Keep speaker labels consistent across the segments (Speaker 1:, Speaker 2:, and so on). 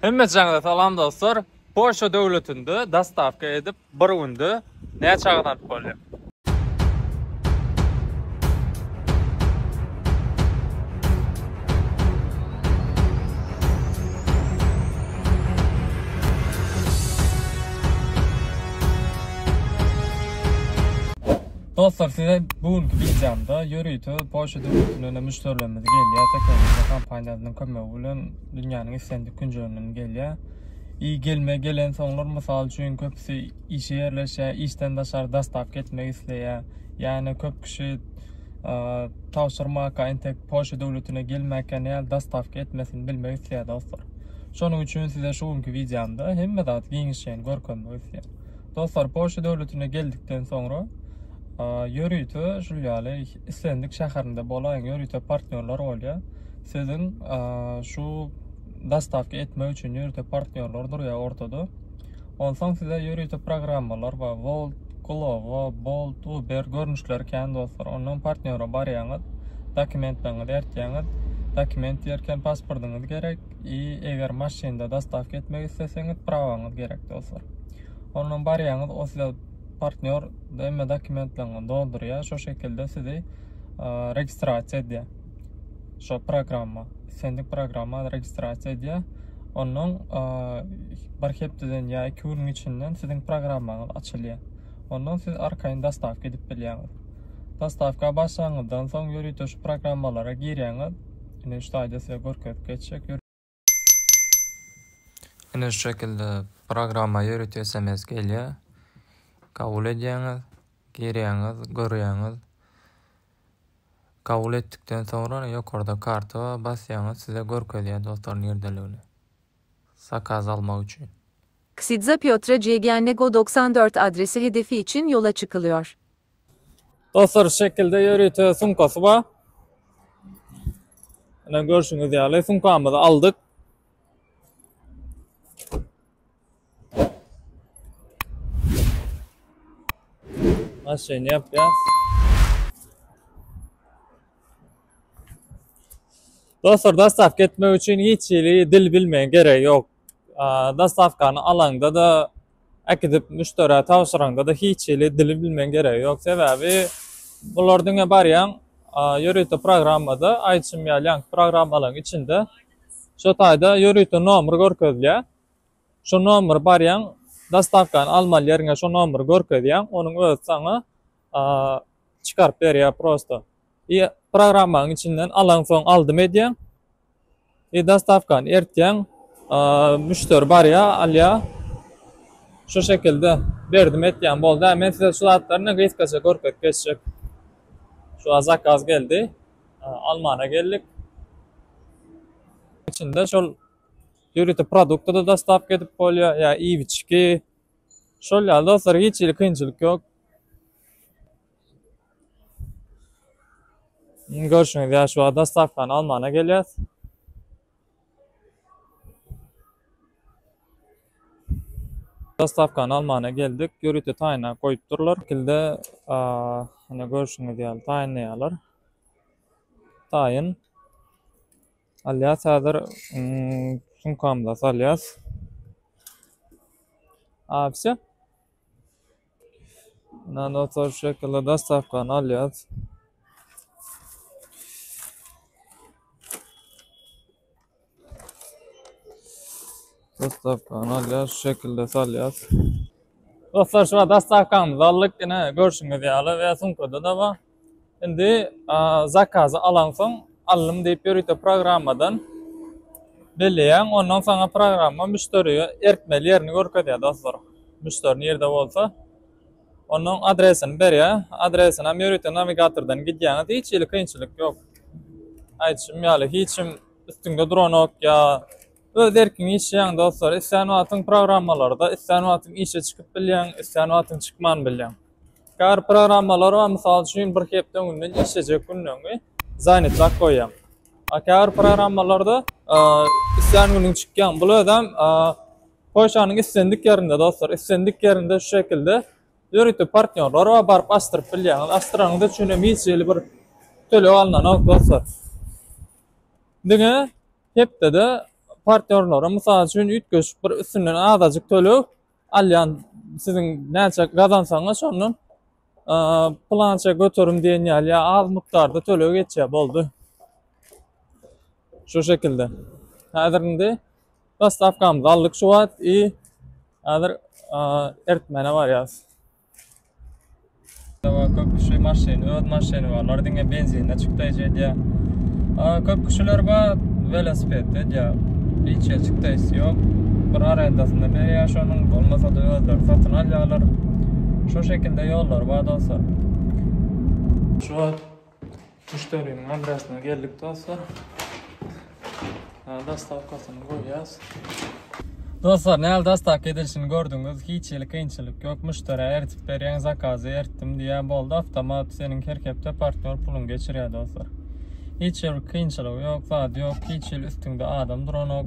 Speaker 1: Hemmeçaňyza salam dostlar. Polşa döwletinde dostawka edip bir günde näçe gazanyp bolýar. Dostlar size bu günki videomda ýörite Polşa döwletinden müşderilerimiz gelýär. Teknologiýa kompaniýasynyň kömegi bilen Dünýäniň islendik künjeginden gelýär. I gelme gelen soňlar mysal üçin köpüsi işe ýerleşýär, işden daşary dastap gitmek isleýär. Ýani köp kişi tabşyrmaka entek Polşa döwletine gelmäkä näl dastap gitmesini bilmek isleýär dostlar. Şonuň üçin size şu günki wideomda hemme zat giňişleýin görkezmek isleýän. Dostlar Polşa döwletine geldikden soňra ýörite şul ýaly islendik şäherinde bolaýyň ýörite partnýorlar bolýar. Siziň şu dostawka etmek üçin ýörite partnýorlar durýar ortada. Onsoň size ýörite programmalar we Volt, Glovo, Bolt, Uber görnüşleri kän dostlar. Ondan partnýora barýaňyz, dokumentleriňizi bertýäňiz. Dokument diýerken pasportyňyz gerek. i eger maşynda dostavka etmek isleseňiz prawaňyz gerek dostlar ondan barýaňyz o size partnýor emme dokumentlerini doldurýar şu şekilde sizi registrasiýa edýär şu programma sendik programma registrasiýa edýär ondan bir hepdeden ýa iki günüň içinden siziň programmaňyz açylýar ondan siz arkaýyn dostavka edip bilýäňiz dostavka başlaňyzdan soň ýörite şu programmalara girýäňiz Ine şu taýda size görkezip geçjek. Ine şu şekilde programma ýörite sms gelýär. Kabul edýäňiz, girýäňiz, görýäňiz. Kabul etdikden soňra ýokarda karta basýaňyz, size görkezýär dostlar nirdeligini. Zakaz almak üçin. Ksidze
Speaker 2: Piotre Cegyannego doksan dört adresi hedefi için yola çykılıyor.
Speaker 1: Dostlar şekilde ýörite sumkasy bar. Ine görşüňiz ýaly sumkamyzy aldyk. Maşyny ýapýas. Dostlar, dastap ketmek üçin hiç hili dil bilmeýän gerek ýok. dostawkany alaňda-da, äkidip müşderä tabşyraňda-da hiç hili dili bilmegiň geregi ýok. Sebäbi bular diňe barýaň, ýörite programmada, iCim ýaly ýaňky programmalaryň içinde şu taýda ýörite nomer görkezilýär. Şu nomeri barýaň, dostawkany almaly ýeriňe şu nomeri görkezýäň, onuň özi saňa çykaryp berýär prosto. Ýa programmanyň içinden alaňsoň aldym edýäň. E dostawkany ertýäň müşderi barýa alýa şu şekilde berdim etýäň bolda men size şu zatlaryny gysgaça görkezip geçjek şu a zakaz geldi almana geldik içinde şol ýörite produkty da dostawka edip bolýa ýa iýibiçki şol ýaly dostlar hiç hili kynçylyk ýok Indi görşüňiz ýaly şu wagt dostawkany almana gelýäs. Dostawkany almana geldik. Ýörite taýyna goýup durlar. Kilde ine görşüňiz ýaly taýynlaýarlar. Taýyn alýas häzir sumkamyza salýas. A, wse. Muna notar şekilde dastawkany alýas. Dastawkany alýas, şekilde salýas. Dostlar, şu dastawkamyzy aldyk, ine görşüňiz ýaly we sumkada-da bar. Indi zakazy alansoň aldym diýip ýörite programmadan belleýäň. Ondan soňa programma müşderige ertmeli ýerini görkezýär dostlar. Müşderi nirde bolsa onuň adresini berýär. Adresini hem ýörite nawigatordan gidýäňiz. Hiç hili kynçylyk ýok. Aýdyşym ýaly hiç kim üstüňde duranok ýa öz erkiňe işleýäň dostlar. Islän wagtyň programmalarda, islän wagtyň işe çykyp bilýäň, islän wagtyň çykman bilýäň. Käbir programmalar bar, mysal üçin, bir hepde öňünden işlejek günleňi zanýetlap goýýaň. A käbir programmalarda islän günüň çykýaň. Bul özem Polşanyň islendik ýerinde dostlar, islendik ýerinde şu şekilde ýörite partnýorlar bar, baryp açdyryp bilýäňiz. Açdyranyňyz üçin hem hiç hili bir töleg alnanok dostlar. Diňe hepdede partnýorlara mysal üçin üýtgeşik bir üstünden azajyk töleg Alýan siziň näçe gazansaňyz şondan plança göterim diýen ýaly ýa az mukdarda töleg geçýär boldy. Şu şekilde. Häzir indi Dostavkamyzy aldyk şu wagt i häzir ertmäne barýas. Köp kişi maşyn, öz maşyny barlar, diňe benzinle çykdaýjy edýär. Köp kişiler bar, velosiped edýär. Hiç ýer çykdaýsy ýok. Bir arendasyna berýär şonuň, bolmasa-da özleri satyn alýarlar. Şu şekilde ýollar bar dostlar. Şu Müşderiniň adresyna geldik dostlar. Dastavkasyny goýýas. Dostlar, näl dastavka edilişini gördüňiz. Hiç hili kynçylyk ýok. Müşderä eritip berýän zakazy eritdim diýä boldy. Awtomat seniň her hepde partnýor puluňy geçirýär dostlar. Hiç bir kynçylygy ýok, zady ýok. Hiç hili üstüňde adam duranok.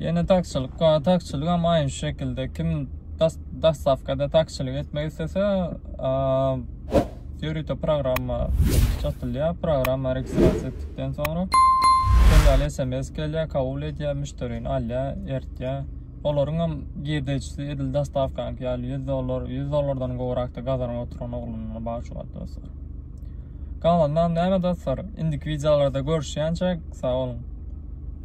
Speaker 1: Ýene taksiçilik bar. Taksiçilik hem aýn şu şekilde. Kim dostavkada taksiçilik etmek istese, ýörite programma çatylýar. Programma registrasiýa etdikden soňra şeýle SMS gelýär, kabul edýär, müşderini alýar, ertýär. Olaryň hem girdejisi edil dostawkanyňky ýaly 100 dollar, 100 dollardan gowrakda gazanyp oturan oglanlar bar şu wagt dostlar. Galanynam näme dostlar? Indiki wideolarda görüşýänçäk, sag boluň.